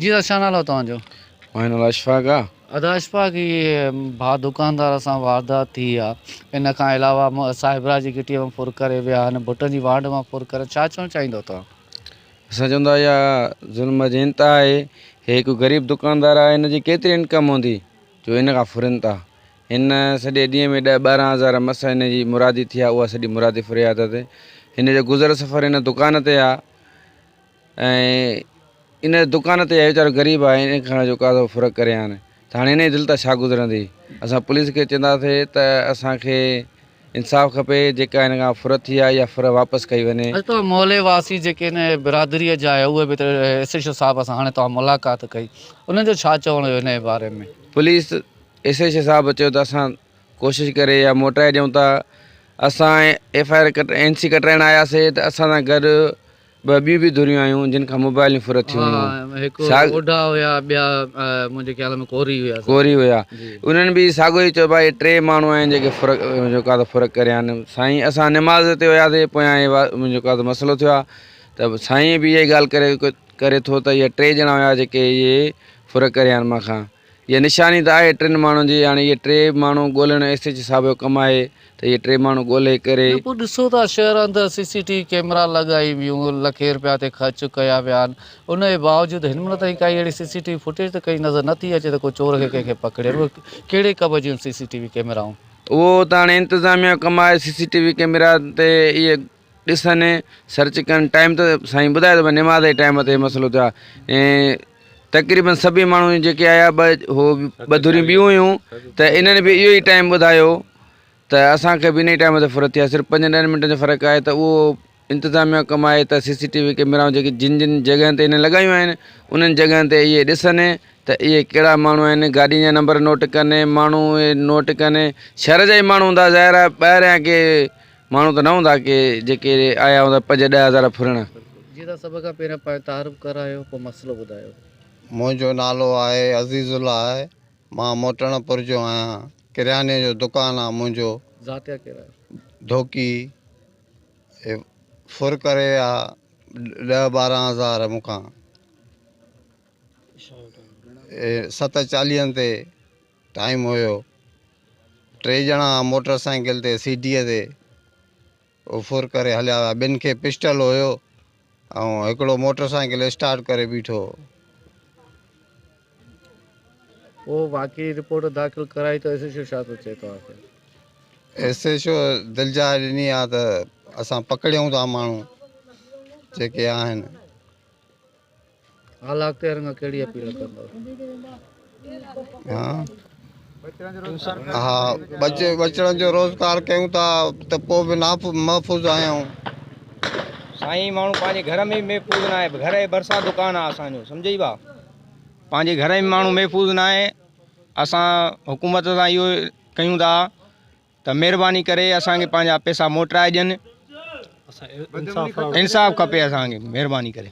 جي ادا ڇا نالو آ توهان جو. ماهي نالو اشفاق آ. ادا اشفاق هي ڀا دڪاندار سان واردات ٿي آ ان کان علاوه صاحبراه جي گهٽيء مان ڦر ڪري ويا آهن ڀٽن جي وانڍ مان ڦر ڪرن ڇا چوڻ چاهيندؤ توهان. اسان چون ٿا اها ظلم جي انتها آهي هي هڪ غريب دڪاندار آهي هن جي ڪيتري انڪم هوندي جو هن کان ڦرين ٿا هن سڄي ڏينهن ۾ ڏهه ٻارهن هزار مس هن جي مرادي ٿي آ اها سڄي مرادي ڦري آ ته هن جو گذر سفر هن دڪان تي آ ۽ ان دڪان تي ويچارو غريب آهي ان کان جو ڪاڌو فرق ڪري هان ته هاڻي انهي دل تان ڇا گذرندي اسان پوليس کي چونداسي ته اسان کي انصاف کپي جيڪا ان کان فر ٿي آهي اها فر واپس ڪئي وڃي. اڄ توهان محلي واسي جيڪي ان برادري جا آهيو اهي به ته ايس ايڇ او صاحب سان هاڻي توهان ملاقات ڪئي انهن جو ڇا چوڻ هيو انهي باري ۾. پوليس ايس ايڇ او صاحب چيو ته اسان ڪوشش ڪري يا موٽائي ڏيون ٿا اسان FIR cut NC ڪٽرائڻ آياسي ته اسان سان گڏ ٻه ٻيون به ڌريون آيون جن کان موبائلون ڦر ٿيون هيون. ها هڪ اوڍا هيا ٻيا منهنجي خيال ۾ ڪوري هيا سا. ڪوري هيا انهن به ساڳو ئي چيو ڀاء ٽي ماڻهو آهن جيڪي فرق جيڪا ته فرق ڪريان سائين اسان نماز تي هياسي پويان هي جيڪا ته مسئلو ٿيو آهي ته سائين به اها ئي ڳالهه ڪري ڪري ٿو ته اهي ٽي ڄڻا هيا جيڪي اهي فرق ڪريان مان کان اها نشاني ته آهي ٽن ماڻهن جي، هاڻي اهي ٽي ماڻهو ڳولهڻ ايس ايڇ صاحب جو ڪم آهي ته اهي ٽي ماڻهو ڳولهي ڪري. ٻيو پوء ڏسو ته شهر اندر CCTV camera لڳائي ويون، لکين رپيا تي خرچ ڪيا ويا آهن، ان جي باوجود هنمهل تائين ڪائي اهڙي CCTV footage ته ڪئين نظر نه ٿي اچي ته ڪو چور کي ڪنهن کي پڪڙين، اهي ڪهڙي ڪب جون سي سي ٽي وي ڪيمرائون؟ اهو ته هاڻي انتظاميا جو ڪم آهي، CCTV camera تي اهي ڏسن ۽ سرچ ڪن ٽائيم ته سائين ٻڌائي ٿو نماز جي ٽائيم تي مسئلو ٿيو آهي ۽ تقريبن سڀئي ماڻهو جيڪي آيا ٻه هو ٻه ڌريون ٻيون هيون ته انهن به اهو ئي ٽائيم ٻڌايو ته اسانکي به ان ئي ٽائيم تي فرت ٿي آهي صرف پنجن ڏهن منٽن جو فرق آهي ته اهو انتظاميا ڪم آهي ته سي سي ٽي وي ڪئميرائون جيڪي جن جن جڳهن تي انهن لڳايون آهن انهن جڳهن تي اهي ڏسن ته اهي ڪهڙا ماڻهو آهن گاڏين جا نمبر نوٽ ڪن ماڻهو نوٽ ڪن شهر جا ئي ماڻهو هوندا ظاهر آهي ٻاهريان ڪي ماڻهو ته نه هوندا ڪي جيڪي آيا هوندا پنج ڏهه هزار ڦرڻ. جي تان سڀ کان پهريان پنهنجو تعارف ڪرايو پوء مسئلو ٻڌايو. منهنجو نالو آهي عزيز الله آهي مان موٽڻ پور جو آهيان ڪرياني جو دڪان آهي منهنجو. ذاتيا ڪير آهي؟ ڌوڪي هي ڦر ڪري ويا ڏهه ٻارهن هزار مون کان هي ست چاليهن تي. ٽائيم هيو ٽي ڄڻا موٽر سائيڪل تي سيٽيء تي افور ڪري هليا ويا ٻن کي پسٽل هيو ۽ هڪڙو موٽر سائيڪل اسٽارٽ ڪري بيٺو هو. پوء واقعي رپورٽ داخل ڪرائي ته ايس ايڇ او ڇا ٿو چئي توهان کي؟ ايس ايڇ او دلجاء ڏني آ ته اسان پڪڙيون ٿا ماڻهو جيڪي آهن. اعليٰ اختيارين کان ڪهڙي اپيل ڪندؤ؟ ها ٻچڙن جو روزگار ڪيون ٿا ته پوء به محفوظ آهيون. سائين ماڻهو پنهنجي گهر ۾ به محفوظ ناهي گهر جي ڀرسان دڪان آهي اسان جو سمجهي ڀاء پنهنجي گهر ۾ ماڻهو محفوظ ناهي اسان حڪومت سان اهو ڪيون ٿا ته مهرباني ڪري اسان کي پنهنجا پيسا موٽرائي ڏين انصاف کپي اسان کي مهرباني ڪري